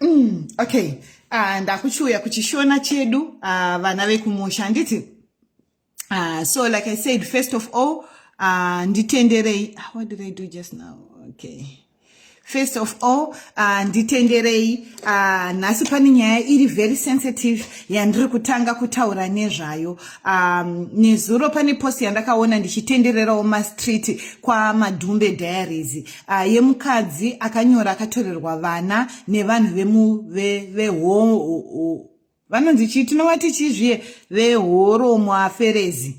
Mm, okay uh, ndakuchiuya kuchishona chedu uh, vana vekumusha handiti uh, so like i said first of all uh, nditenderei ah, what did i do just now okay first of all uh, nditenderei uh, nhasi pane nyaya iri very sensitive yandiri kutanga kutaura nezvayo um, nezuro pane post yandakaona ndichitendererawo mastreet kwamadhumbe diaries uh, yemukadzi akanyora akatorerwa vana nevanhu vemuvehoo vanonzi chii tinova tichii zviye vehoromo aferezi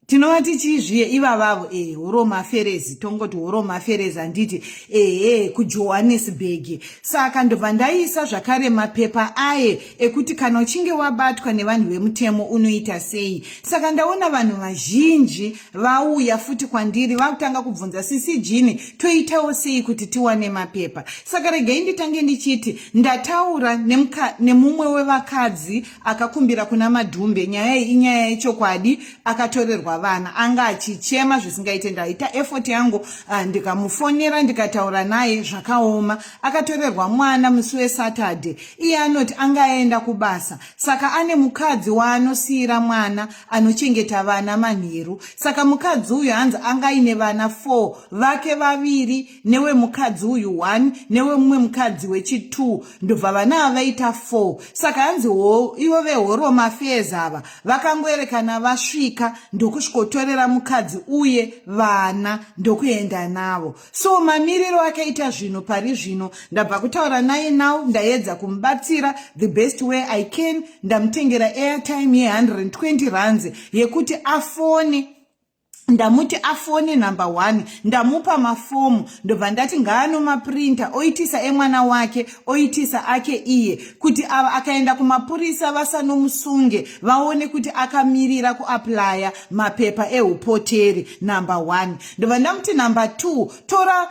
tinova tichii zviye ivavavo e eh, horomo aferezi tongoti horomo aferezi handiti ehe eh, kujohannesburg saka ndobva ndaisa zvakare mapepa aye ekuti kana uchinge wabatwa nevanhu vemutemo unoita sei saka ndaona vanhu vazhinji vauya futi kwandiri vakutanga kubvunza sisi jini toitawo sei kuti tiwane mapepa saka regai nditange ndichiti ndataura nemumwe wevakadzi akakumbira kuna madhumbe nyaya iyi inyaya yechokwadi akatorerwa vana anga achichema zvisingaite ndaita effort yangu ah, ndikamufonera ndikataura naye zvakaoma akatorerwa mwana musi wesaturday iye anoti anga aenda kubasa saka ane mukadzi waanosiyira mwana anochengeta vana manheru saka mukadzi uyu hanzi anga aine vana four vake vaviri newemukadzi uyu one newemumwe mukadzi wechitwo ndobva vana ava vaita four saka hanzi ho ivo vehoromo affairs ava vakangoerekana vasvika ndokusvikotorera mukadzi uye vana ndokuenda navo so mamiriro akaita zvinhu pari zvino ndabva kutaura naye now ndayedza kumubatsira the best way i can ndamutengera airtime ye120 rands yekuti afone ndamuti afone number one ndamupa mafomu ndobva ndati ngaanomaprinta oitisa emwana wake oitisa ake iye kuti ava akaenda kumapurisa vasanomusunge vaone kuti akamirira kuaplaya mapepa eupoteri number one ndobva ndamuti number two tora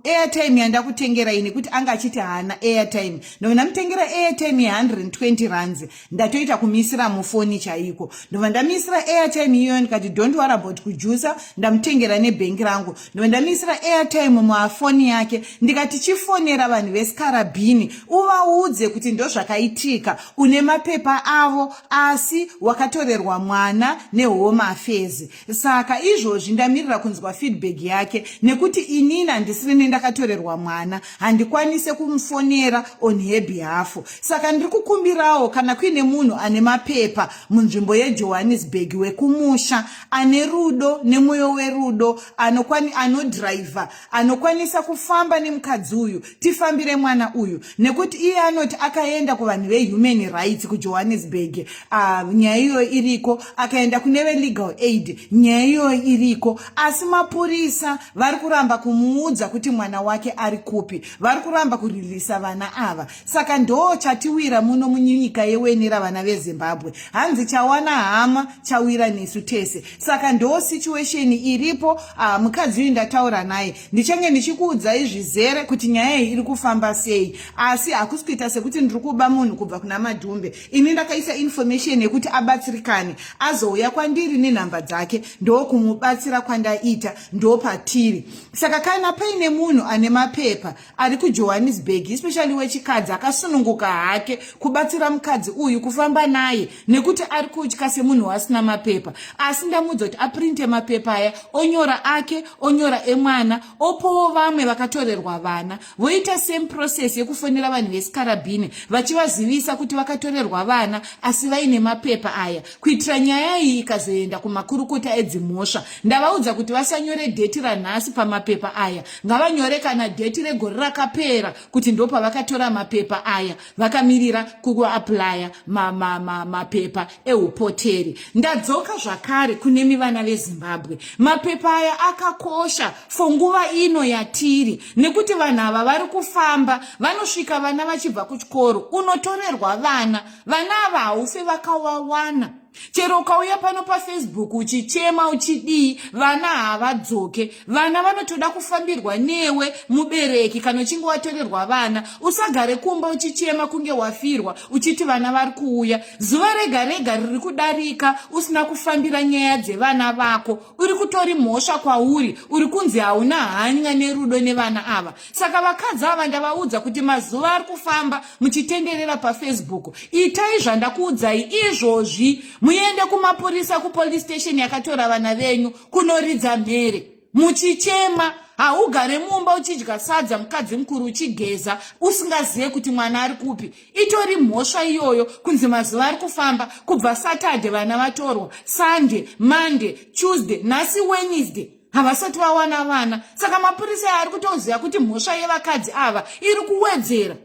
airtime yandakutengerai nekuti anga achiti haana airtime ndobva ndamutengera airtime ye100 and 20 runs ndatoita kumisira mufoni chaiko ndobva ndamisira airtime iyoyo ndikati don't wor about kujusa ndamutengera nebhengi rangu ndobva ndamisira airtime mumafoni yake ndikati chifonera vanhu vesikarabhini uvaudze kuti ndozvakaitika une mapepa avo asi wakatorerwa mwana nehome affairs Saka izvozvi ndamirira kunzwa feedback yake nekuti inini handisiri nendakatorerwa mwana handikwanise kumufonera on her behalf. Saka ndiri kukumbirawo kana kuine munhu ane mapepa munzvimbo yeJohannesburg wekumusha ane rudo nemwoyo werudo anokwani anodriver anokwanisa kufamba nemukadzi uyu tifambire mwana uyu nekuti iye anoti akaenda kuvanhu vehuman rights kujohannesburg uh, nyaya iyoyo iriko akaenda kune velegal aid nyaya iyoyo iriko asi mapurisa vari kuramba kumuudza kuti mwana wake ari kupi vari kuramba kuririsa vana ava saka ndoo chatiwira muno munyika yeweni ravana vezimbabwe hanzi chawana hama chawira nesu tese saka ndoo situation iripo uh, mukadzi uyu ndataura naye ndichange ndichikuudzai zvizere kuti nyaya iyi iri kufamba sei asi hakusi kuita sekuti ndiri kuba munhu kubva kuna madhumbe ini ndakaisa information yekuti abatsirikane azouya kwandiri nenhamba dzake ndokumubatsira kwandaita ndopatiri saka kana paine munhu ane mapepa ari kujohannesburg especially wechikadzi akasununguka hake kubatsira mukadzi uyu kufamba naye nekuti ari kutya semunhu wasina mapepa asi ndamuudza kuti aprinte mapepa aya onyora ake onyora emwana opowo vamwe vakatorerwa vana voita same process yekufonera vanhu vesikarabhini vachivazivisa kuti vakatorerwa vana asi vaine mapepa aya kuitira nyaya iyi ikazoenda kumakurukota edzimhosva ndavaudza kuti vasanyore dheti ranhasi pamapepa aya ngavanyore kana dheti regore rakapera kuti ndopavakatora mapepa aya vakamirira kuaplya mapepa ma, ma, ma eupoteri ndadzoka zvakare kunemi vana vezimbabwe mapepa aya akakosha fo nguva ino yatiri nekuti vanhu ava vari kufamba vanosvika vana vachibva kuchikoro unotorerwa vana vana ava haufe vakawawana chero ukauya pano pafacebook uchichema uchidii vana havadzoke vana vanotoda kufambirwa newe mubereki kana uchinge watorerwa vana usagare kumba uchichema kunge wafirwa uchiti vana vari kuuya zuva rega rega riri kudarika usina kufambira nyaya dzevana vako uri kutori mhosva kwauri uri kunzi hauna hanya nerudo nevana ava saka vakadzi ava ndavaudza kuti mazuva ari kufamba muchitenderera pafacebook itai zvandakuudzai izvozvi muende kumapurisa kupolice station yakatora vana venyu kunoridza mhere muchichema haugare mumba uchidya sadza mukadzi mukuru uchigeza usingazive kuti mwana ari kupi itori mhosva iyoyo kunzi mazuva ari kufamba kubva saturday vana vatorwa sunday monday tuesday nhasi wednesday havasati vawana vana saka mapurisa aari kutoziva kuti mhosva yevakadzi ava iri kuwedzera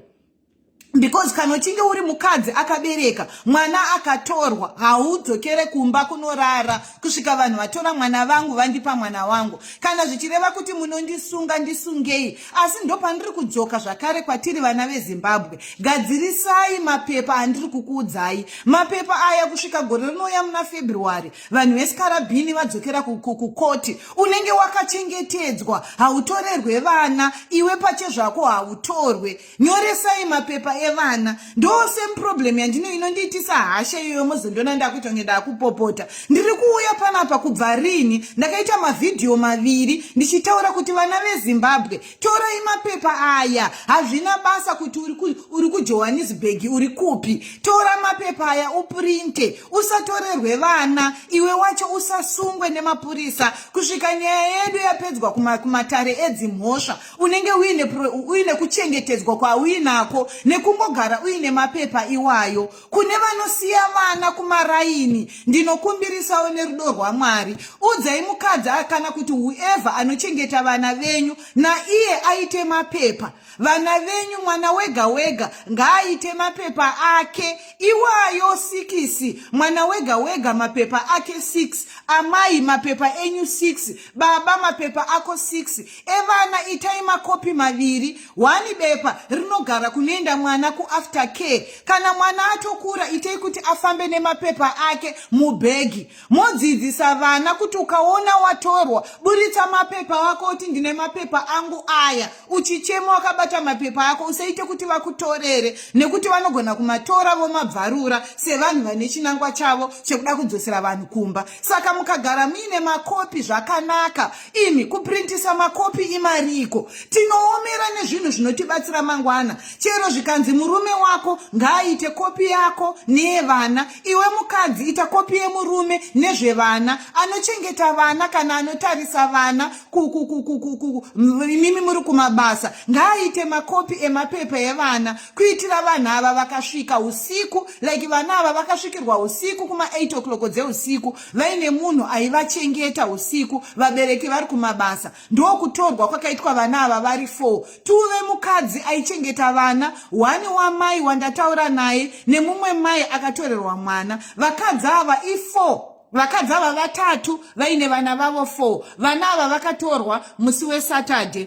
because kana uchinge uri mukadzi akabereka mwana akatorwa haudzokere kumba kunorara kusvika vanhu vatora mwana vangu vandipa mwana wangu kana zvichireva kuti munondisunga ndisungei asi ndopandiri kudzoka zvakare kwatiri vana vezimbabwe gadzirisai mapepa andiri kukuudzai mapepa aya kusvika gore rinouya muna february vanhu vesikarabhini vadzokera kukoti unenge wakachengetedzwa hautorerwe vana iwe pache zvako hautorwe nyoresai mapepa evana ndo same problem yandino inondiitisa hasha iyoyo mozondiona ndakuita kunge ndakupopota ndiri kuuya panapa kubva rini ndakaita mavhidhiyo maviri ndichitaura kuti vana vezimbabwe torai mapepa aya hazvina basa kuti uri kujohannesburg uri kupi tora mapepa aya uprinte usatorerwe vana iwe wacho usasungwe nemapurisa kusvika nyaya yedu yapedzwa kumatare edzimhosva unenge uine kuchengetedzwa kwauinako nekungogara uine mapepa iwayo kune vanosiya vana kumaraini ndinokumbirisawo nerudo rwamwari udzai mukadzi kana kuti whoever anochengeta vana venyu naiye aite mapepa vana venyu mwana wega wega ngaaite mapepa ake iwayo sikisi mwana wega wega mapepa ake 6 amai mapepa enyu 6 baba mapepa ako 6 evana itai makopi maviri Wani bepa rinogara kunoenda mwana kuafter care. Kana mwana atokura itei kuti afambe nemapepa ake mubhegi. Modzidzisa vana kuti ukaona watorwa buritsa mapepa wako uti ndine mapepa angu aya. Uchichema wakabata mapepa ako usaite kuti vakutorere nekuti vanogona kumatora vomabvarura sevanhu vane chinangwa chavo chekuda kudzosera vanhu kumba. Saka mukagara muine makopi zvakanaka. imi kuprintisa makopi imariiko tinoomera nezvinhu zvinotibatsira mangwana chero zvikanzi murume wako ngaaite kopi yako neyevana iwe mukadzi ita kopi yemurume nezvevana anochengeta vana kana anotarisa vana imimi muri kumabasa ngaaite makopi emapepa evana kuitira vanhu ava vakasvika usiku like vana ava vakasvikirwa usiku kuma 8 o'clock dzeusiku vaine munhu aivachengeta usiku vabereki vari kumabasa ndokutorwa kwakaitwa vana ava vari four tuve mukadzi aichengeta vana hwani wamai wandataura naye nemumwe mai akatorerwa mwana vakadzi ava ifour vakadzi ava vatatu vaine vana vavo four vana ava vakatorwa musi wesaturday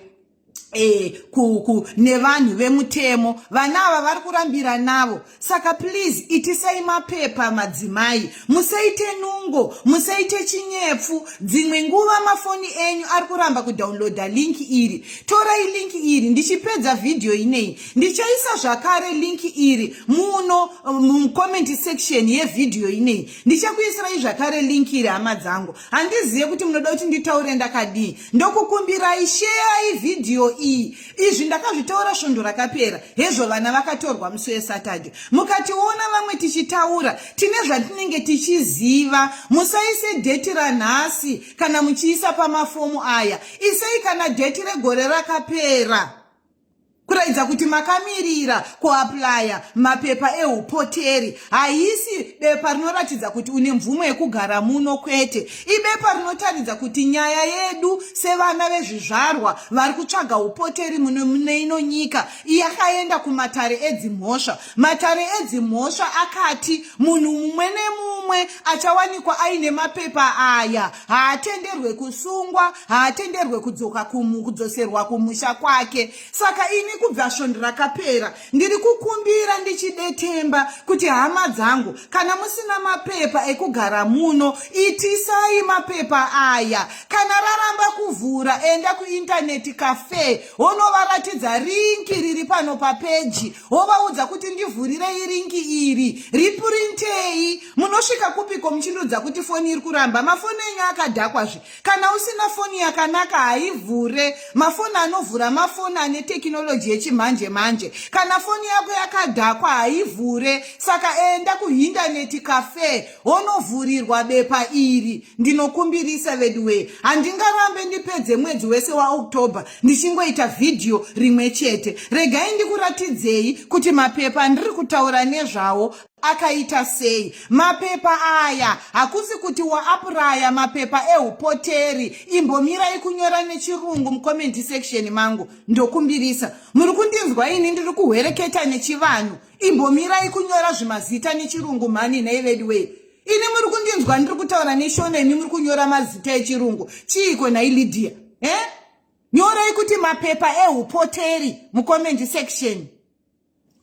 Eh, ku, ku, nevanhu vemutemo vana ava vari kurambira navo saka please itisai mapepa madzimai musaite nungo musaite chinyepfu dzimwe nguva mafoni enyu ari kuramba kudownloada linki iri torai linki iri ndichipedza vhidhiyo ineyi ndichaisa zvakare linki iri muno mucomment section yevhidhiyo ineyi ndichakuisirai zvakare linki iri hama dzangu handizive kuti munoda kuti nditaure ndakadii ndokukumbirai sheerai vhidhiyo iyi izvi ndakazvitaura svondo rakapera hezvo vana vakatorwa musi wesatade mukationa vamwe tichitaura tine zvatinenge tichiziva musaise dheti ranhasi kana muchiisa pamafomu aya isei kana dheti regore rakapera kuratidza kuti makamirira kuaplaya mapepa eupoteri haisi bepa rinoratidza kuti une mvumo yekugara muno kwete ibepa rinotaridza kuti nyaya yedu sevana vezvizvarwa vari kutsvaga upoteri muno mune ino nyika yakaenda kumatare edzimhosva matare edzimhosva akati munhu mumwe nemumwe achawanikwa aine mapepa aya haatenderwe kusungwa haatenderwe kudzoka kumu kudzoserwa kumusha kwake saka ini kubva svondo rakapera ndiri kukumbira ndichidetemba kuti hama dzangu kana musina mapepa ekugara muno itisai mapepa aya kana raramba kuvhura enda kuintaneti cafe wonovaratidza rinki riri pano papeji wovaudza kuti ndivhurirei rinki iri ripurintei munosvika kupiko muchindiudza kuti foni iri kuramba mafoni enyu akadhakwazve Kana usina foni yakanaka haivhure. Mafoni anovhura mafoni ane tekinoloji yechimanje manje. Kana foni yako yakadhakwa haivhure. Saka enda kuhindaneti cafe wonovhurirwa bepa iri. Ndinokumbirisa veduwee, handingarambe ndipedze mwedzi wese waOctober ndichingoita vhidhiyo rimwe chete. Regai ndikuratidzei kuti mapepa andiri kutaura nezvawo akaita sei mapepa aya hakusi kuti waapuraya mapepa eupoteri imbomirai kunyora nechirungu mucommendi section mangu ndokumbirisa muri kundinzwa ini ndiri kuhwereketa nechivanhu imbomirai kunyora zvimazita nechirungu mhani nhai veduwei ini muri kundinzwa ndiri kutaura neshona imi muri kunyora mazita echirungu chiiko nhai lydia e nyorai kuti mapepa eupoteri mucommendi section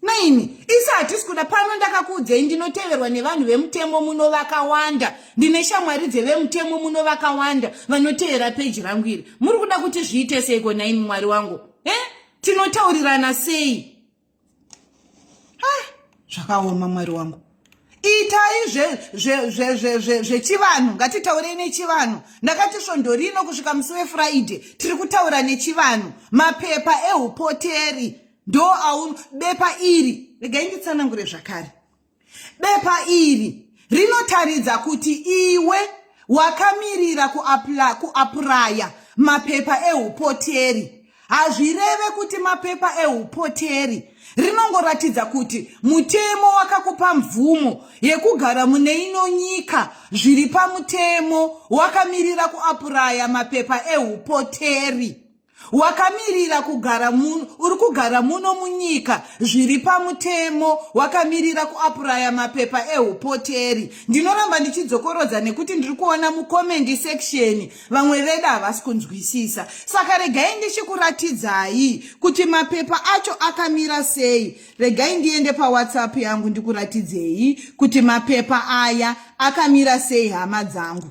maini isi hatisi kuda pano ndakakuudzei ndinoteverwa nevanhu vemutemo muno vakawanda ndine shamwari dzevemutemo muno vakawanda vanotevera peji rangu iri muri kuda kuti zviite seiko naimi mwari wangu e eh? tinotaurirana sei zvakaoma mwari wangu itai zvechivanhu ngatitaurei nechivanhu ndakati svondo rino kusvika musi wefriday tiri kutaura nechivanhu mapepa eupoteri ndo aun bepa iri regai nditsanangure zvakare bepa iri rinotaridza kuti iwe wakamirira kuapuraya mapepa eupoteri hazvireve kuti mapepa eupoteri rinongoratidza kuti mutemo wakakupa mvumo yekugara mune ino nyika zviri pamutemo wakamirira kuapuraya mapepa eupoteri wakamirira kugara muno uri kugara muno munyika zviri pamutemo wakamirira kuapuraya mapepa eupoteri ndinoramba ndichidzokorodza nekuti ndiri kuona mukomendi seksheni vamwe vedu havasi kunzwisisa saka regai ndichikuratidzai kuti mapepa acho akamira sei regai ndiende pawhatsapp yangu ndikuratidzei kuti mapepa aya akamira sei hama dzangu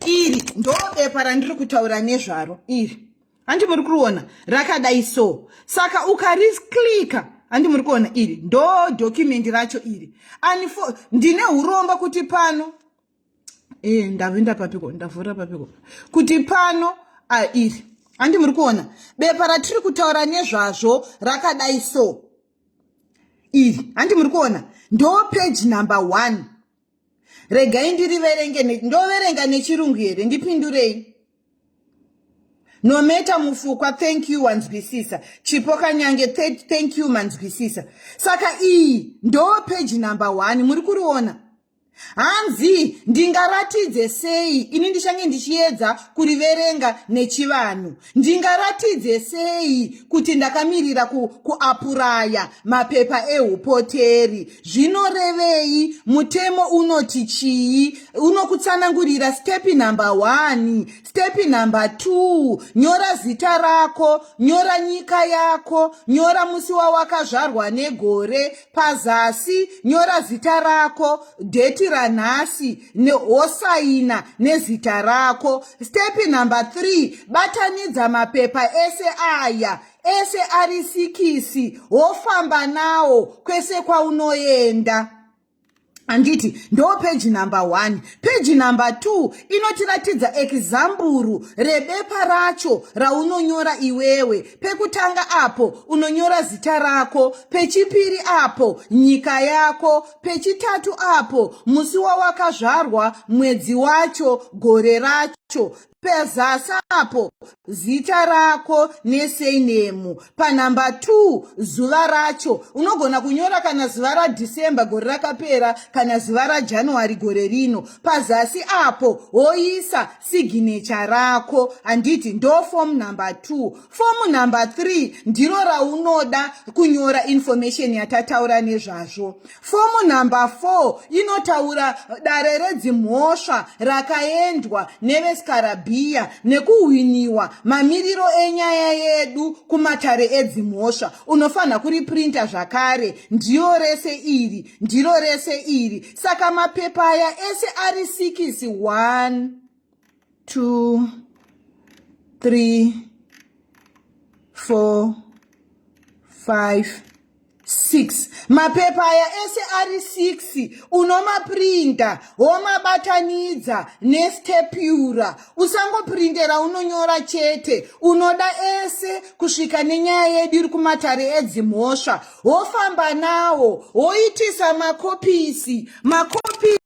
iri ndobepa randiri kutaura nezvaro iri handi muri kuriona rakadai so saka ukarisclika handi muri kuona iri ndo documendi racho iri anifo ndine uromba kuti pano e, ndavinda papiko ndavhura papiko kuti pano a iri handi muri kuona bepa ratiri kutaura nezvazvo rakadai so iri handi muri kuona ndo peji number one regai ndiriverenge ndoverenga nechirungu here ndipindurei nometa mufukwa thank you wanzwisisa chipo kanyange thank you manzwisisa saka iyi ndo peji number one muri kuriona hanzi ndingaratidze sei ini ndichange ndichiedza kuriverenga nechivanhu Ndingaratidze sei kuti ndakamirira ku, kuapuraya mapepa eupoteri? Zvinorevei? Mutemo unoti chii? Unokutsanangurira stepi number one, stepi number two, nyora zita rako, nyora nyika yako, nyora musi wawakazvarwa negore, Pazasi nyora zita rako, dheti ranhasi wosaina nezita rako. Stepi number 3, batanidza mapepa ese aya ese ari sikisi wofamba nawo kwese kwaunoenda. handiti ndo peji number one peji number two inotiratidza ekizamburu rebepa racho raunonyora iwewe pekutanga apo unonyora zita rako pechipiri apo nyika yako pechitatu apo musi wawakazvarwa mwedzi wacho gore racho pezasi apo zita rako nesenemu panhamba 2 zuva racho unogona kunyora kana zuva radhisemba gore rakapera kana zuva rajanuary gore rino pazasi apo woisa siginecha rako handiti ndofom number 2 Fomu number 3 ndiro raunoda kunyora information yatataura nezvazvo. Fomu number 4 inotaura dare redzimhosva rakaendwa nevesikarabhiya nekuhwiniwa mamiriro enyaya yedu kumatare edzimhosva. Unofanira kuriprinta zvakare. Ndiyo rese iri, ndiro rese iri. Saka mapepa aya ese ari sikisi 1. two three four five six mapepa aya ese ari six unomaprinta womabatanidza nestepura usangoprintera unonyora chete unoda ese kusvika nenyaya yedu iri kumatare edzimhosva wofamba nawo woitisa makopisi makopisi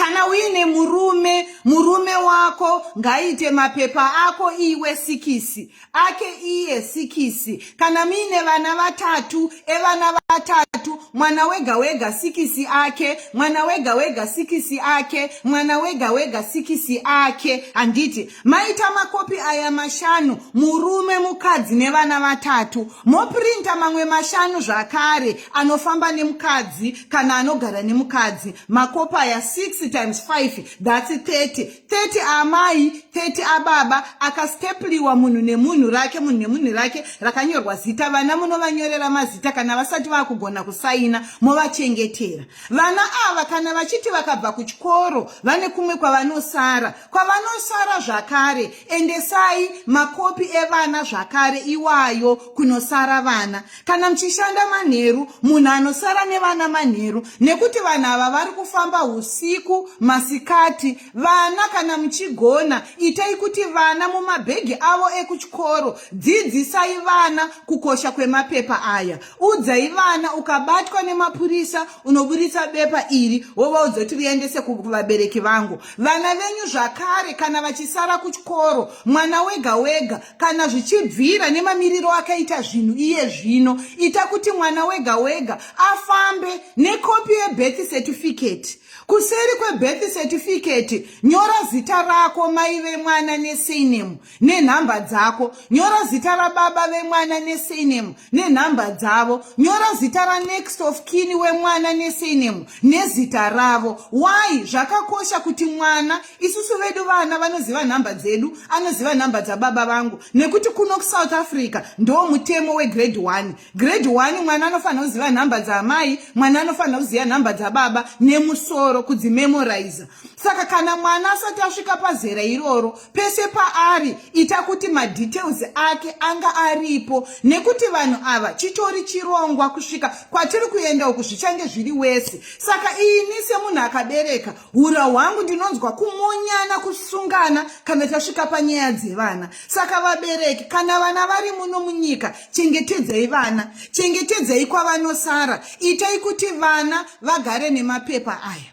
kana uine murume murume wako ngaite mapepa ako iwe sikisi ake iye sikisi kana muine vana vatatu evana vatatu mwana wega wega sikisi ake mwana wega wega sikisi ake mwana wega wega sikisi ake handiti maita makopi aya mashanu murume mukadzi nevana vatatu moprinta mamwe mashanu zvakare anofamba nemukadzi kana anogara nemukadzi makopa aya 6 times 5 thats 30 30 aamai 30 ababa akastepliwa munhu nemunhu rake munhu nemunhu rake rakanyorwa zita vana munovanyorera mazita kana vasati vakugona kusaina movachengetera vana ava kana vachiti vakabva kuchikoro vane kumwe kwavanosara kwavanosara zvakare endesai makopi evana zvakare iwayo kunosara vana kana muchishanda manheru munhu anosara nevana manheru nekuti vanhu ava vari kufamba usiku masikati vana kana muchigona itai kuti vana mumabhegi avo ekuchikoro dzidzisai vana kukosha kwemapepa aya udzai vana ukabatwa nemapurisa unoburitsa bepa iri wovaudza kuti riendese kuvabereki vangu vana venyu zvakare kana vachisara kuchikoro mwana wega wega kana zvichibvira nemamiriro akaita zvinhu iye zvino ita kuti mwana wega wega afambe nekopi yebirth certificate kuseri kwebirth certificate nyora zita rako mai vemwana nesainemu nenhamba dzako nyora zita rababa vemwana nesainemu nenhamba dzavo nyora zita ranext of kini wemwana nesainemu nezita ravo why zvakakosha kuti mwana isusu vedu vana vanoziva nhamba dzedu anoziva nhamba dzababa vangu nekuti kuno kusouth africa ndoo mutemo wegrade one grade one mwana anofanira kuziva nhamba dzaamai mwana anofanira kuziva nhamba dzababa nemusoro kudzimemoriza saka kana mwana asati asvika pazera iroro pese paari ita kuti madetails ake anga aripo nekuti vanhu ava chitori chirongwa kusvika kwatiri kuenda uku zvichange zviri wese saka ini semunhu akabereka hura hwangu ndinonzwa kumonyana kusungana kana tasvika panyaya dzevana saka vabereki kana vana vari muno munyika chengetedzai vana chengetedzai kwavanosara itai kuti vana vagare nemapepa aya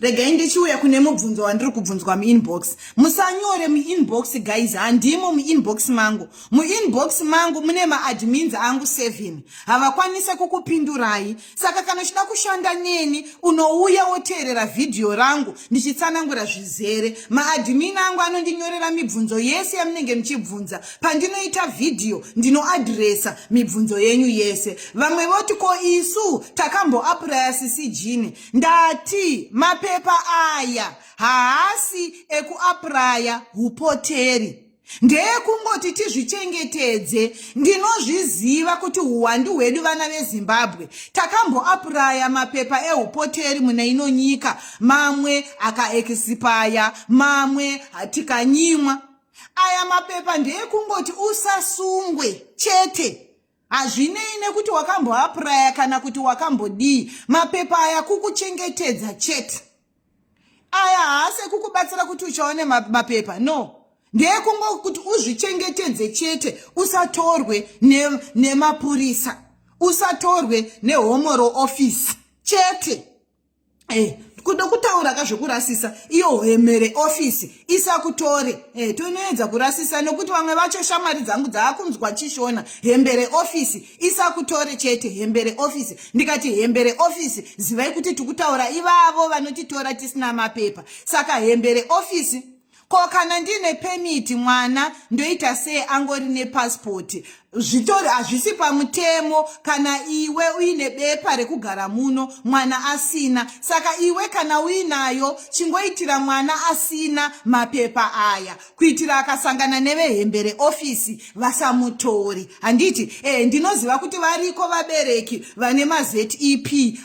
regai ndichiuya kune mubvunzo wandiri kubvunzwa muinbox musanyore muinbox guys handimo muinbox mangu muinbox mangu mune maadmins angu seven havakwanise kukupindurai saka kana uchida kushanda neni unouya woteerera vhidhiyo rangu ndichitsanangura zvizere maadhimini angu anondinyorera mibvunzo yese yamunenge muchibvunza pandinoita vhidhiyo ndinoadhiresa mibvunzo yenyu yese vamwe voti ko isu takamboapuraya sisi jini ndati mapepa aya haasi ekuapuraya upoteri ndeyekungoti tizvichengetedze ndinozviziva kuti uwandu hwedu vana vezimbabwe takamboapuraya mapepa eupoteri mune ino nyika mamwe akaekisipaya mamwe tikanyimwa aya mapepa ndeyekungoti usasungwe chete hazvinei nekuti wakamboapuraya kana kuti wakambodii mapepa aya kukuchengetedza chete aya haasi ekukubatsira kuti uchaone mapepa no ndeekungokuti uzvichengetedze chete usatorwe nemapurisa ne usatorwe nehomoro ofisi chete Hey, eh, kuda kutaura ka zvekurasisa iyo hwemere ofisi isakutore hey, eh, tonoedza kurasisa nekuti vamwe vacho shamwari dzangu dzaakunzwa chishona hembere ofisi isakutore chete hembere ofisi ndikati hembere ofisi zivai kuti tikutaura ivavo vanotitora tisina mapepa saka hembere ofisi ko kana ndiine pemiti mwana ndoita sei angori nepasipoti zvitori hazvisi pamutemo kana iwe uine bepa rekugara muno mwana asina saka iwe kana uinayo chingoitira mwana asina mapepa aya kuitira akasangana nevehembe reofisi vasamutori handiti e ndinoziva kuti variko vabereki vane mazep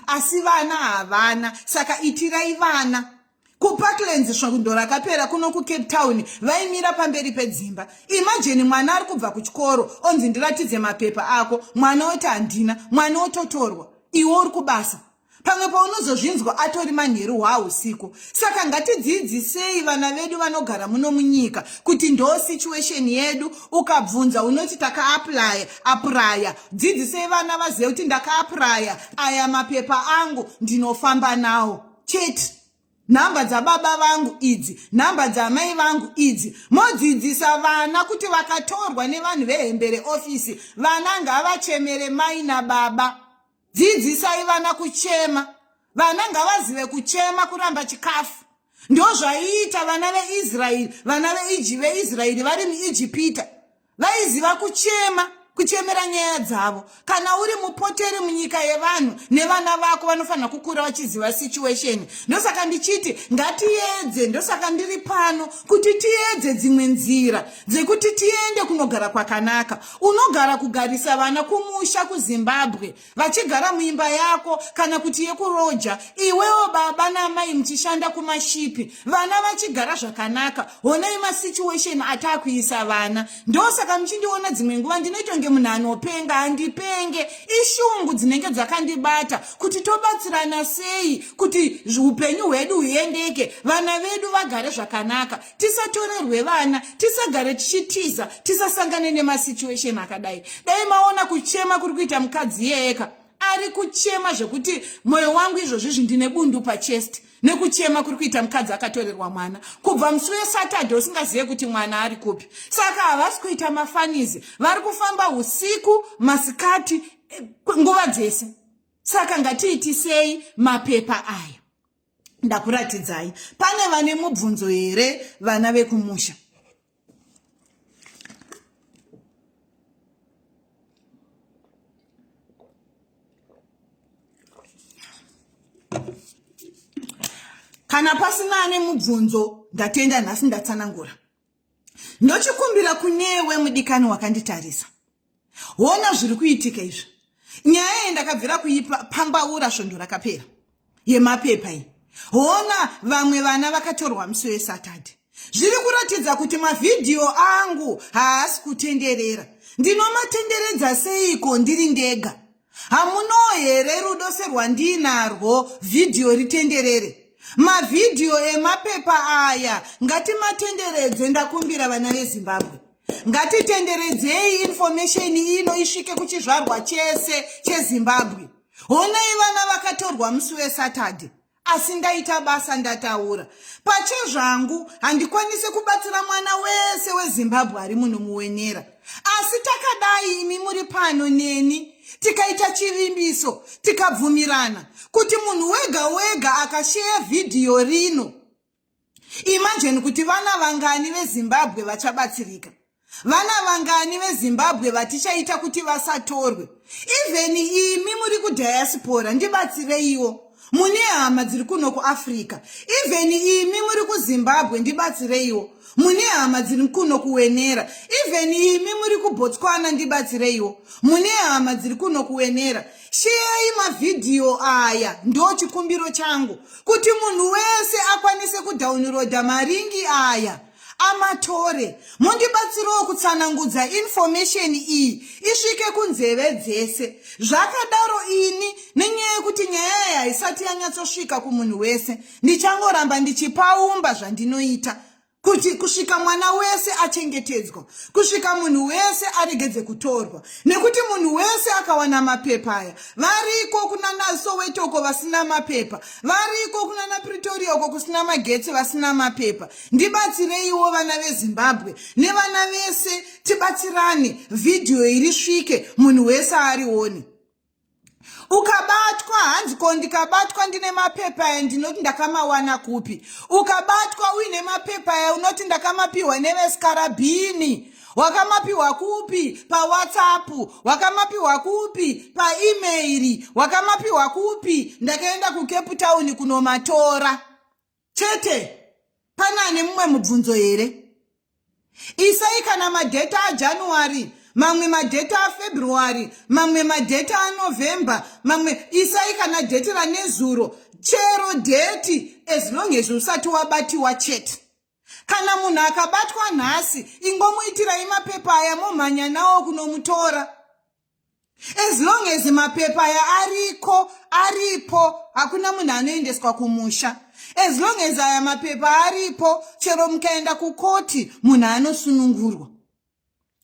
asi vana havana saka itirai vana kuparklands svondo rakapera kuno kucape town vaimira pamberi pedzimba imajeni mwana ari kubva kuchikoro onzi ndiratidze mapepa ako mwana oti handina mwana ototorwa iwe uri kubasa pamwe paunozozvinzwa atori manheru hwausiku saka ngatidzidzisei vana vedu vanogara muno munyika kuti ndoo situation yedu ukabvunza unoti takaaplya aprya dzidzisei vana vazive kuti ndakaapuraya aya mapepa angu ndinofamba nawo chete nhamba dzababa vangu idzi nhamba dzamai vangu idzi modzidzisa vana kuti vakatorwa nevanhu vehembere ofisi vana ngavachemere mai nababa dzidzisai vana kuchema vana ngavazive kuchema kuramba chikafu ndozvaiita vana veisraeri vana veiji veisraeri vari muijipita vaiziva kuchema kuchemera nyaya dzavo kana uri mupoteri munyika yevanhu nevana vako vanofanira kukura vachiziva situation ndosaka ndichiti ngatiedze ndosaka ndiri pano kuti tiedze dzimwe nzira dzekuti tiende kunogara kwakanaka unogara kugarisa vana kumusha kuzimbabwe vachigara muimba yako kana kuti yekuroja iwewo baba namai muchishanda kumashipi vana vachigara zvakanaka honai masituation ataakuisa vana ndosaka muchindiona dzimwe nguva ndinoitonge munhu anopenga handipenge ishungu dzinenge dzakandibata kuti tobatsirana sei kuti upenyu hwedu huendeke vana vedu vagare zvakanaka tisatorerwe vana tisagare tichitiza tisasangane nemasituation akadai dai maona kuchema kuri kuita mukadzi iyeyeka ari kuchema zvekuti mwoyo wangu izvozvi zvindine bundu pachest nekuchema kuri kuita mukadzi akatorerwa mwana kubva musi wesatadhe usingazive kuti mwana ari kupi saka havasi kuita mafanizi vari kufamba usiku masikati eh, nguva dzese saka ngatiitisei mapepa aya ndakuratidzai pane vane mubvunzo here vana vekumusha kana pasina ane mubvunzo ndatenda nhasi ndatsanangura ndochikumbira kunewe mudikani wakanditarisa hona zviri kuitika izvi nyaya iyi ndakabvira kuipambaura svondo rakapera yemapepa iyi hona vamwe vana vakatorwa musi wesatadhe zviri kuratidza kuti mavhidhiyo angu haasi kutenderera ndinomatenderedza seiko ndiri ndega hamuno here rudo serwandiinarwo vhidhiyo ritenderere mavhidhiyo emapepa aya ngatimatenderedze ndakumbira vana vezimbabwe ngatitenderedzei infomesheni ino isvike kuchizvarwa chese chezimbabwe honai vana vakatorwa musi wesatadhe asi ndaita basa ndataura pachezvangu handikwanise kubatsira mwana wese wezimbabwe ari muno muwenera asi takadai imi muri pano neni tikaita chivimbiso tikabvumirana kuti munhu wega wega akasheya vhidhiyo rino imagine kuti vana vangani vezimbabwe vachabatsirika vana vangani vezimbabwe vatichaita kuti vasatorwe even imi muri kudiaspora ndibatsireiwo mune hama dziri kuno kuafrica even imi muri kuzimbabwe ndibatsireiwo mune hama dziri kuno kuwenera even imi muri kubotswana ndibatsireiwo mune hama dziri kuno kuwenera sheyai mavhidhiyo aya ndo chikumbiro changu kuti munhu wese akwanise kudhaunurodha maringi aya amatore mundibatsirawo kutsanangudza infomesheni iyi isvike kunzeve dzese zvakadaro ini nenyaya yekuti nyaya yayo haisati yanyatsosvika kumunhu wese ndichangoramba ndichipaumba zvandinoita kuti kusvika mwana wese achengetedzwa kusvika munhu wese aregedze kutorwa nekuti munhu wese akawana mapepa aya variko kunana sowetoko vasina mapepa variko kunana pretoria uko kusina magetsi vasina mapepa ndibatsireiwo vana vezimbabwe nevana vese tibatsirane vhidhiyo iri svike munhu wese arione ukabatwa hanzi ko ndikabatwa ndine mapepa aya ndinoti ndakamawana kupi ukabatwa uine mapepa aya unoti ndakamapiwa nevesikarabhini wakamapiwa kupi pawhatsapp wakamapiwa kupi paemairi wakamapiwa kupi ndakaenda kucape town kunomatora chete pane ane mumwe mubvunzo here isai kana madheta ajanuary mamwe madheta afebruary mamwe madheta anovhember mamwe isai kana dheti ranezuro chero dheti as long as usati wabatiwa chete kana munhu akabatwa nhasi ingomuitirai mapepa aya momhanya nawo kunomutora as long as mapepa aya ariko aripo hakuna munhu anoendeswa kumusha as long as aya mapepa aripo chero mukaenda kukoti munhu anosunungurwa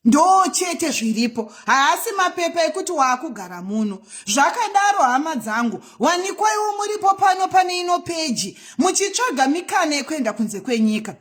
ndoo chete zviripo haasi mapepa ekuti waakugara muno zvakadaro hama dzangu wanikwaiwo muripo pano pane ino peji muchitsvaga mikana yekuenda kunze kwenyika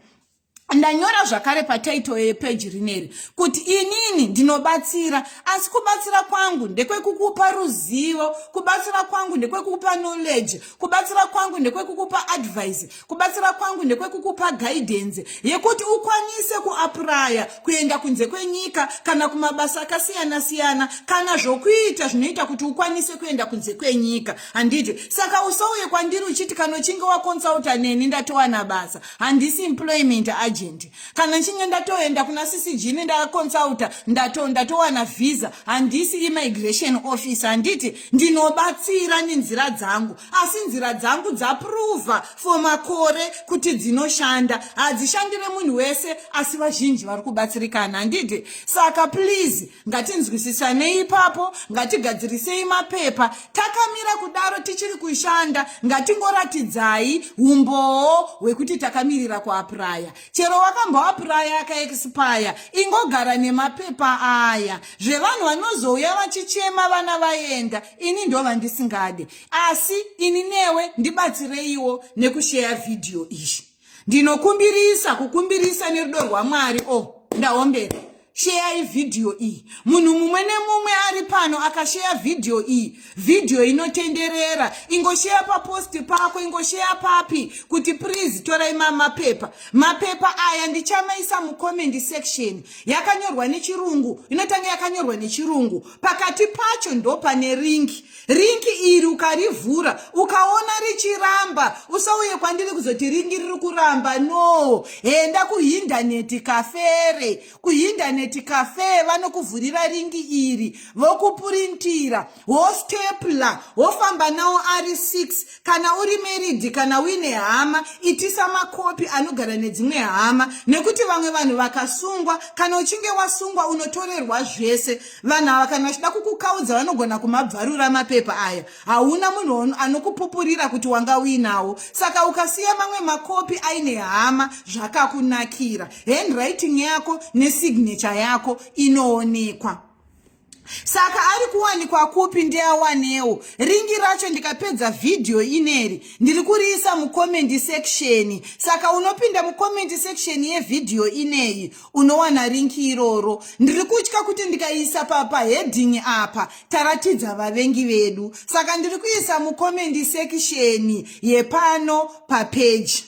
ndanyora zvakare pataito yepeji rineri kuti inini ndinobatsira asi kubatsira kwangu ndekwekukupa ruzivo kubatsira kwangu ndekwekukupa knowledge kubatsira kwangu ndekwekukupa advice kubatsira kwangu ndekwekukupa guidance yekuti ukwanise kuapuraya kuenda kunze kwenyika kana kumabasa akasiyana siyana kana zvokuita zvinoita kuti ukwanise kuenda kunze kwenyika handiti saka usauye kwandiri uchiti kanochinge wakonsulta neni ndatowana basa handisi employment agent kana nchinge ndatoenda kuna ccg nendaconsulta ndato ndatowana visa handisi immigration office handiti ndinobatsira nenzira dzangu asi nzira dzangu dzaprova for makore kuti dzinoshanda hadzishandire munhu wese asi vazhinji vari kubatsirikana handiti saka please ngatinzwisisanei ipapo ngatigadzirisei mapepa takamira kudaro tichiri kushanda ngatingoratidzai umbowo hwekuti takamirira kuapuraya chero wakamboapuraya akaexpaya ingogara nemapepa aya zvevanhu vanozouya vachichema vana vaenda ini ndovandisingade asi ini newe ndibatsireiwo nekusheya vhidhiyo izvi ndinokumbirisa kukumbirisa nerudo rwamwari o oh, ndaombera sheyai vhidhiyo iyi munhu mumwe nemumwe ari pano akasheya vhidhiyo iyi vhidhiyo inotenderera ingosheya paposti pako ingosheya papi kuti prizi torai mamapepa mapepa aya ndichamaisa mucommendi section yakanyorwa nechirungu inotanga yakanyorwa nechirungu pakati pacho ndopane ringi ringi iri ukarivhura ukaona richiramba usauye kwandiri kuzoti ringi riri kuramba no enda kuhindaneti kafere kuhindaneti kafe vanokuvhurira ringi iri vokupurintira wostepla wofamba nawo ari 6 Kana uri married kana uine hama, itisa makopi anogara nedzimwe hama nekuti vamwe vanhu vakasungwa, kana uchinge wasungwa unotorerwa zvese. Vanhu ava kana vachida kukukaudza vanogona kumabvarura mapepa aya. Hauna munhu anokupupurira kuti wanga uinawo. Saka ukasiya mamwe makopi aine hama zvakakunakira. Handwriting yako nesignature yako inoonekwa. saka ari kuwanikwa kupi ndeawanewo ringi racho ndikapedza vhidhiyo ineri ndiri kuriisa mukomendi seksheni saka unopinda mukomendi seksheni yevhidhiyo ineyi unowana ringi iroro ndiri kutya kuti ndikaiisa pahedhingi apa taratidza vavengi vedu saka ndiri kuisa mukomendi seksheni yepano papeji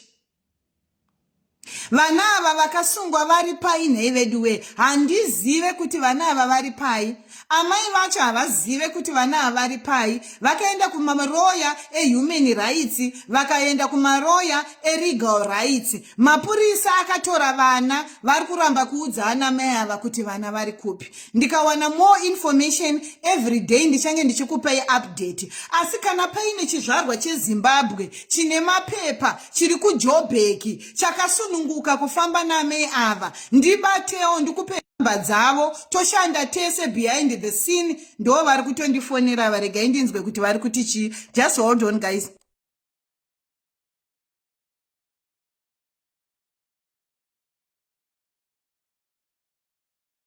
vana ava vakasungwa vari pai nhei veduwee handizive kuti vana ava vari pai amai vacho havazive kuti vana ava vari pai vakaenda kumaroya ehuman rights vakaenda kumaroya eregal rights mapurisa akatora vana vari kuramba kuudza ana mai ava kuti vana vari kupi ndikawana more information every day ndichange ndichikupai update asi kana paine chizvarwa chezimbabwe chine mapepa chiri kujobheki chakasununguka kufamba namei ava ndibatewo ndikupe mba dzavo toshanda tese behind the scene ndo vari kutondifonera varegai ndinzwe kuti vari kuti chii just hold on guys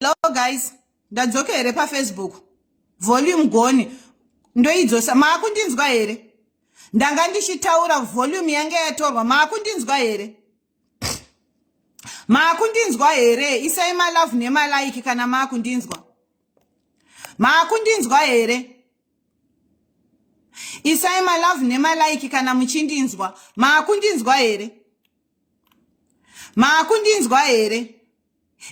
Hello guys, ndadzoka here pafacebook? Volume gone, ndoidzosa. Maakundinzwa here? Ndanga ndichitaura volume yange yatorwa. Maakundinzwa here? Maakundinzwa here? Isai malove nemalike kana maakundinzwa. Maakundinzwa here? isai malove nemalaiki kana muchindinzwa maakundinzwa here maakundinzwa here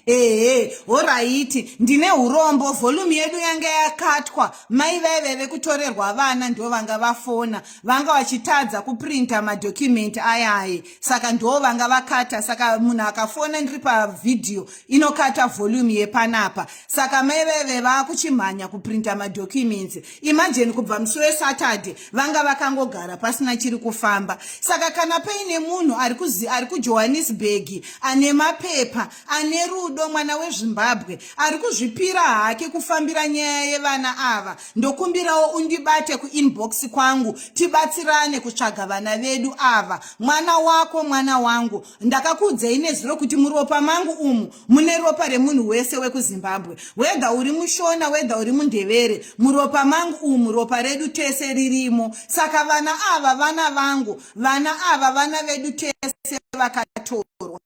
ehe horaiti ndine urombo vholumu yedu yanga yakatwa mai vaive vekutorerwa vana ndo vanga vafona vanga vachitadza kuprinta madhokumenti ayaye saka ndo vanga vakata saka munhu akafona ndiri pavhidhiyo inokata volume yepanapa saka mai veve vakuchimhanya kuprinta madocuments imagine kubva musi wesaturday vanga vakangogara pasina chiri kufamba saka kana paine munhu ari kujohannesburg ane mapepa ane rudo mwana wezvimbabwe ari kuzvipira hake kufambira nyaya yevana ava ndokumbirawo undibate kuinbox kwangu tibatsirane kutsvaga vana vedu ava mwana wako mwana wangu Ndakakuudzei nezuro kuti muropa mangu umu mune ropa remunhu wese wekuZimbabwe. Wedha uri mushona, wedha uri mundevere. Muropa mangu umu ropa redu tese ririmo. Saka vana ava vana vangu, vana ava vana vedu tese vakatorwa.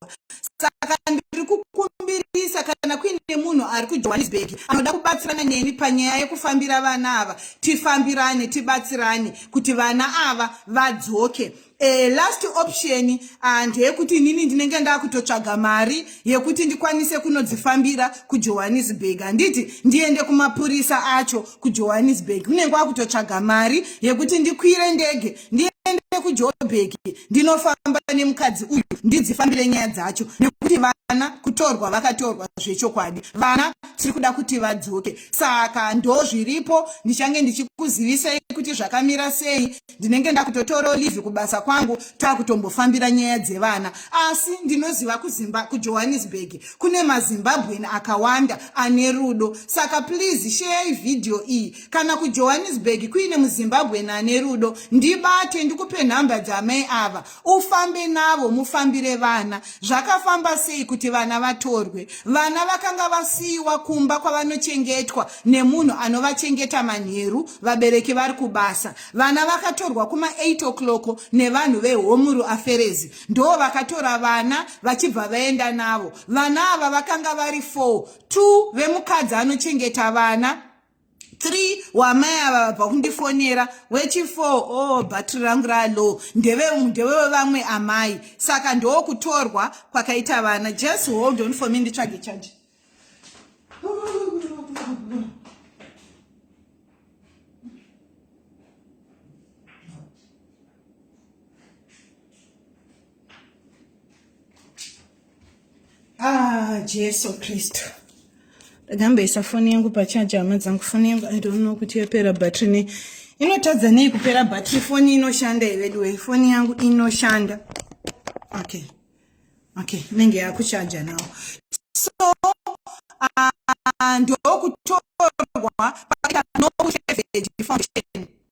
Saka ndiri kukumbirisa kana kuine munhu ari kuJohannesburg anoda kubatsirana neni panyaya yekufambira vana ava, tifambirane, tibatsirane kuti vana ava vadzoke. Eh, last option ah, ndeyekuti inini ndinenge ndakutotsvaga mari yekuti ndikwanise kunodzifambira kujohannesburg handiti ndiende kumapurisa acho kujohannesburg unenge wakutotsvaga mari yekuti ndikwire ndege ndiende kujoburg ndinofamba nemukadzi uyu ndidzifambire nyaya dzacho nekuti vana kutorwa vakatorwa zvechokwadi vana tiri kuda kuti vadzoke saka ndozviripo ndichange ndichikuzivisai kuti zvakamira sei ndinenge ndakutotorawo live kubasa kwangu takutombofambira nyaya dzevana asi ndinoziva kuzimba kujohannesburg kune mazimbabwen akawanda ane rudo saka please sheyai vhidhiyo iyi kana kujohannesburg kuine muzimbabwen ane rudo ndibate ndikupe nhamba dzaamai ava ufambe navo mufambire vana zvakafamba sei kuti vana vatorwe vana vakanga vasiyiwa kumba kwavanochengetwa nemunhu anovachengeta manheru vabereki vari kubasa vana vakatorwa kuma 8 o'clock nevanhu vehomuru aferezi ndoo vakatora vana vachibva vaenda navo vana ava vakanga vari 4 two vemukadzi anochengeta vana three wamai ava vabva kundifonera wechifour o oh, bhatri rangu ralow ndevevamwe amai saka ndoo kutorwa kwakaita vana just hold on for me nditsvage chaji Ah, Jesu Kristu. Ndakamboisa foni yangu pachaja hama dzangu foni yangu I don't know kuti yapera battery ne inotadza nei kupera battery foni inoshanda iveduwe foni yangu inoshanda okay okay inenge yakuchaja nawo so uh, ndokutorwa paita no foundation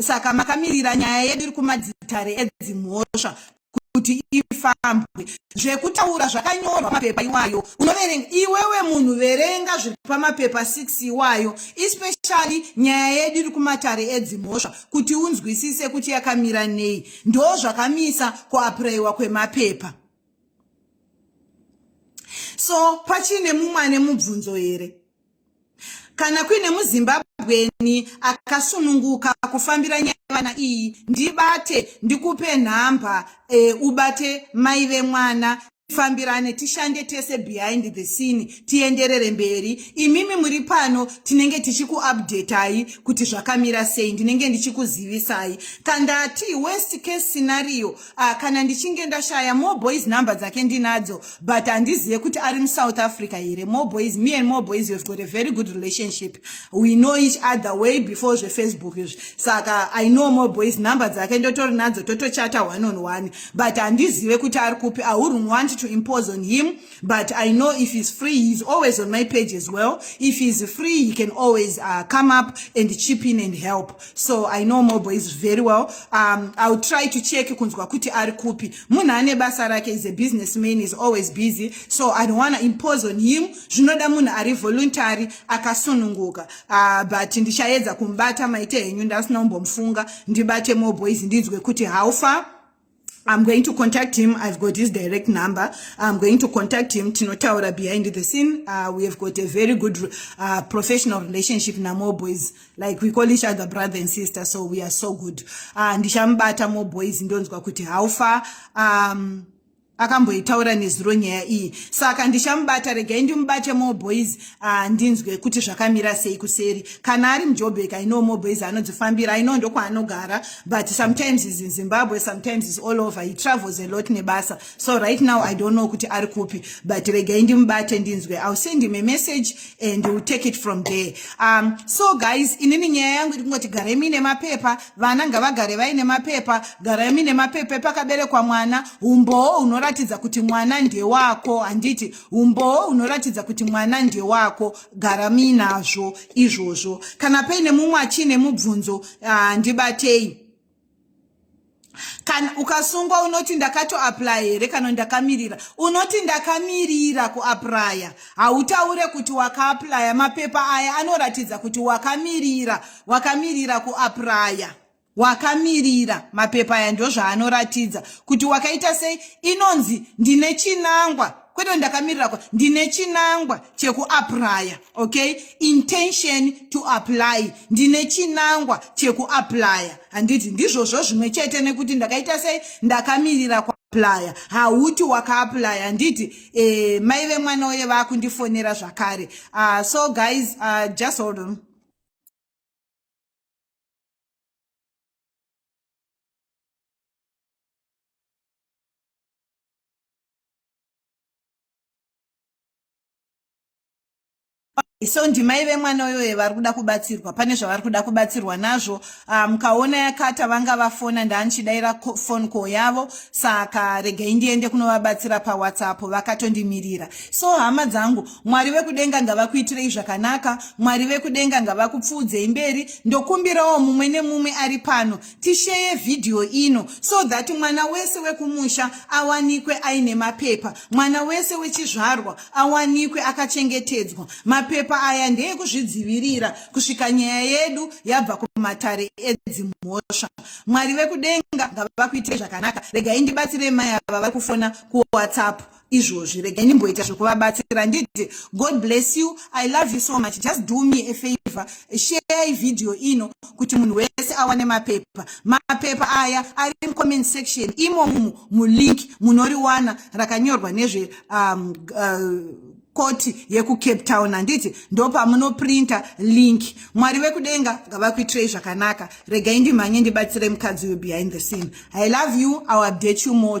saka makamirira nyaya yedu iri kumadzitare edzimhosva kuti ifambwe zvekutaura zvakanyorwa mapepa iwayo unoverenga iwewe munhu verenga zviri pamapepa 6 iwayo especially nyaya yedu iri kumatare edzimhosva kuti unzwisise kuti yakamira nei ndo zvakamisa kuapurayiwa kwemapepa so pachine mumwe ane mubvunzo here Kana kuine muZimbabweni akasununguka kufambira nyaya yevana iyi, ndibate ndikupe nhamba e, ubate mai vemwana tifambirane tishande tese behind the scene tienderere mberi imimi muri pano tinenge tichikuupdatai kuti zvakamira sei ndinenge ndichikuzivisai kandati worst case scenario Ah, kana ndichinge ndashaya more boys number dzake ndinadzo but handizive kuti ari musouth africa here more boys me and more boys have got a very good relationship we know each other way before zvefacebook izvi saka i know more boys number dzake ndotori nadzo totochata one on one but handizive kuti ari kupi i wouldn't want to impose on him But I know if he's free, he's always on my page as well. If he's free, he can always uh, come up and chip in and help. So I know Mobo is very well. Um, I'll try to check kunzwa kuti ari kupi. Munhu ane basa rake is a businessman, is always busy. So I don't want to impose on him. Zvinoda munhu ari voluntary, akasununguka. Uh, but ndichaedza kumbata maite henyu ndasina kumbomufunga. Ndibate Mobo is ndinzwe kuti how far I'm going to contact him. I've got his direct number. I'm going to contact him. Tinotaura behind the scene. Uh, we have got a very good uh, professional relationship. Namo boys, like we call each other brother and sister, so we are so good. Uh, ndishambata mo boys ndonzwa kuti how far um, akamboitaura nezuro nyaya iyi saka ndishamubata regai ndimubate more boys Ah, ndinzwe kuti zvakamira sei kuseri kana ari mujobek i know moboys anodzifambira i know ndokwaanogara but sometimes is in zimbabwe sometimes is all over he travels a lot nebasa so right now i don't know kuti ari kupi but regai ndimubate ndinzwe ill send him a message and will take it from there um, so guys inini nyaya yangu iri kungoti garai muine mapepa vana ngavagare vaine mapepa garai muine mapepa epakaberekwa mwana umbowo hunoratidza kuti mwana ndewako handiti umbowo hunoratidza kuti mwana ndewako gara muinazvo izvozvo kana paine mumwe achiine mubvunzo ah, ndibatei kana ukasungwa unoti ndakatoaplya here kana ndakamirira unoti ndakamirira kuaplya hautaure kuti wakaaplya mapepa aya anoratidza kuti wakamirira wakamirira kuaplya wakamirira mapepa aya ndozvaanoratidza kuti wakaita sei inonzi ndine chinangwa kwete ndakamirira kwa ndine chinangwa chekuaplya okay intention to apply ndine chinangwa chekuaplya handiti ndizvozvo zvimwe chete nekuti ndakaita sei ndakamirira kwa playa hauti wakaaplaya handiti eh, mai vemwana uye vakundifonera zvakare uh, so guys uh, just hold on so ndimai vemwana uyoyo vari kuda kubatsirwa pane zvavari kuda kubatsirwa nazvo ah, mukaona um, yakata vanga vafona ndaanichidaira fon call yavo saka regai ndiende kunovabatsira pawhatsapp vakatondimirira so hama dzangu mwari vekudenga ngavakuitirei zvakanaka mwari vekudenga ngavakupfuudzei mberi ndokumbirawo mumwe nemumwe ari pano tisheye vhidhiyo ino so that mwana wese wekumusha awanikwe aine mapepa mwana wese wechizvarwa awanikwe akachengetedzwa mapepa aya ndeekuzvidzivirira kusvika nyaya yedu yabva kumatare edzimhosva mwari vekudenga ngavakuitirei zvakanaka regai ndibatsire mai ava vari kufona kuwhatsapp izvozvi regai ndimboita zvekuvabatsira handiti god bless you i love you so much just do me a favor share ividhiyo ino kuti munhu wese awane mapepa mapepa aya ari mucomment section imomumu mulink munoriwana rakanyorwa nezve um, uh, koti yekucape town handiti ndopamunoprinta link mwari vekudenga ngavakuitirei zvakanaka regai ndimhanye ndibatsire mukadzi uyu behind the scene i love you iw update you more